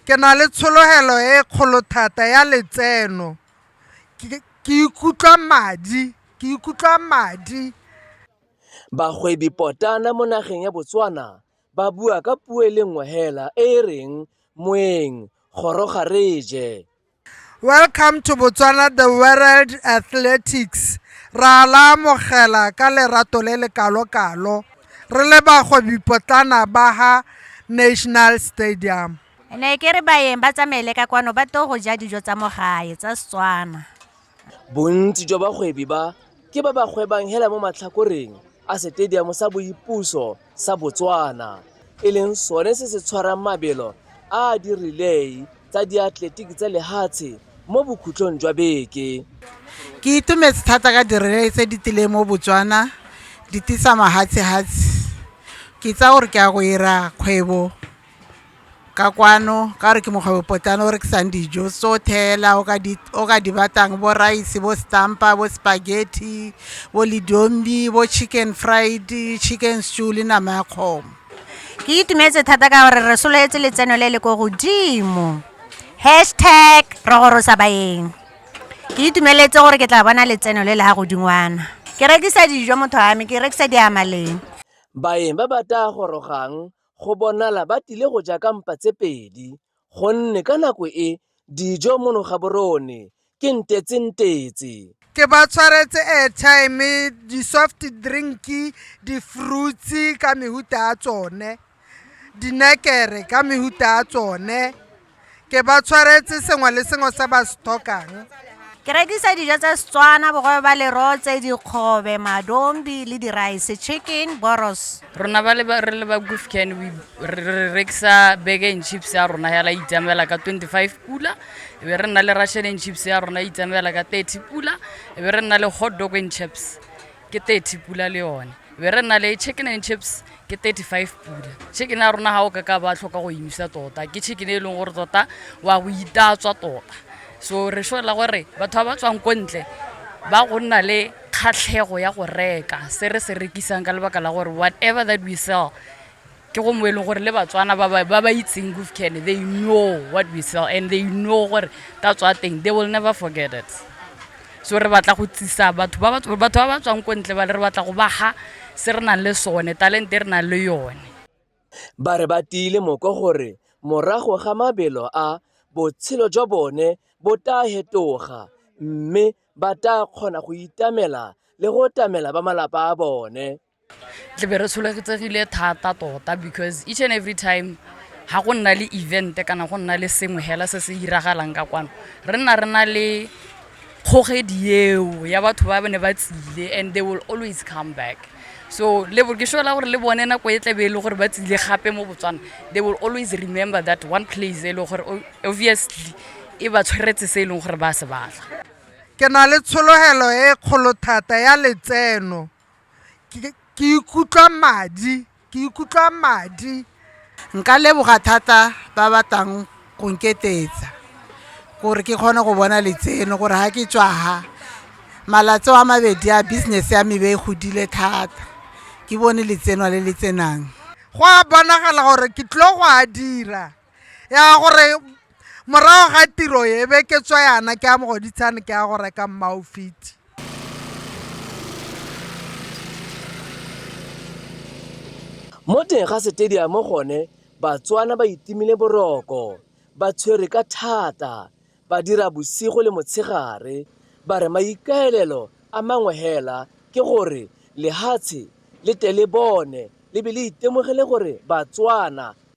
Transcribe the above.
Ke na le tshologelo e kgolo thata ya letseno. Ke ikutlwa madi, ke ikutlwa madi. Bagwebi potlana mo nageng ya Botswana ba bua ka puo e le nngwe hela e e reng moeng goroga re je. Welcome to Botswana the World Athletics. Ra la amogela ka lerato le le kalo-kalo. Re le bagwebi potlana ba ha National Stadium. Ne ke re baeng ba tsamaele ka kwano ba to go ja dijo tsa mo gae tsa Setswana. Bontsi jwa bagwebi ba ke ba ba gwebang hela mo matlhakoreng a setediamo sa boipuso sa Botswana, e leng sone se se tshwarang mabelo a dirilei tsa diatletiki tsa lehatshe mo bokhutlong jwa beke. Ke itumetse thata ka dirilei tse di tlileng mo Botswana di tisa mahatshehatse. Ke itsaya gore ke ya go ira kgwebo. ka kwano ka gore ke mokgwebo potlana o rekisang dijo so thela o ka di batlang bo rice bo stampa bo spaghetti bo lidombi bo chicken fried chicken stew le nama ya kgomo ke itumetse thata ka gore re sololetse letseno le le ko godimo hashtag re gorosa baeng ke itumeletse gore ke tla bona letseno le le ga godingwana ke rekisa dijo motho wa me ke rekisa diamaleng baeng ba ba taa gorogang go bonala ba tile go ja ka mpa tse pedi gonne ka nako e dijo mono ga borone ke ntetsentetse ke ba tshwaretse airtime di-soft drink di-fruits ka mehuta ya tsone dinekere ka mehuta ya tsone Ke ba tshwaretse sengwe le sengwe se ba se tlhokang. Ke rekisa dijo tsa Setswana, bogobe ba lerotse, dikgobe, madombi le di-rice, chicken, boros. Rona ba le ba re le ba Gufcan we re re rekisa burger and chips ya rona ya la itsamaela ka 25 pula e be re nna le russian and chips ya rona e itsamaela ka 30 pula e be re nna le hot dog and chips ke thirty pula le yone be re nna le chicken and chips ke thirty five pula chicken ya rona ga o ka ka ba tlhoka go emisa tota ke chicken e leng gore tota wa go itatswa tota so re sola gore batho ba ba tswang ko ntle ba go nna le kgatlhego ya go reka se re se rekisang ka lebaka la gore whatever that we sell ke go mo e leng gore le batswana ba ba ba itseng gufcan they know what we sell and they know gore ka tswa teng they will never forget it so re batla go tsisa batho ba batho ba ba tswang ko ntle ba le re batla go baga se re nang le sone talente e re nang le yone ba re ba tiile moko gore morago ga mabelo a botshelo jwa bone bo taa hetoga mme ba taa kgona go itamela le go tamela ba malapa a bone tle be re tsholagetsegile thata tota because each and every time ga go nna le event kana go nna le sengwe hela se se iragalang ka kwano re nna re na le kgogedi eo ya batho ba bane ba tsile and they will always come back so ke sola gore le bone nako e tlabe e le gore ba tsile gape mo botswana they will always remember that one place e leng gore obviously e ba tshweretse se e leng gore ba se batla ke na le tshologelo e kgolo thata ya letseno ke ikutlwa madi ke ikutlwa madi nka leboga thata ba batlang go nketetsa gore ke kgone go bona letseno gore ga ke tswa ha malatsi a mabedi a business ya mebe e godile thata ke bone letseno le le tsenang go a bonagala gore ke tlile go a dira. ya gore morago ga tiro e be ke tswa yana ke a mogoditshane ke ya go reka mmaofiti mo teng ga setediamo gone batswana ba itimile boroko ba tshwere ka thata ba dira bosigo le motshegare ba re maikaelelo a mangwe hela ke gore lehatshe le tle le bone le be le itemogele gore batswana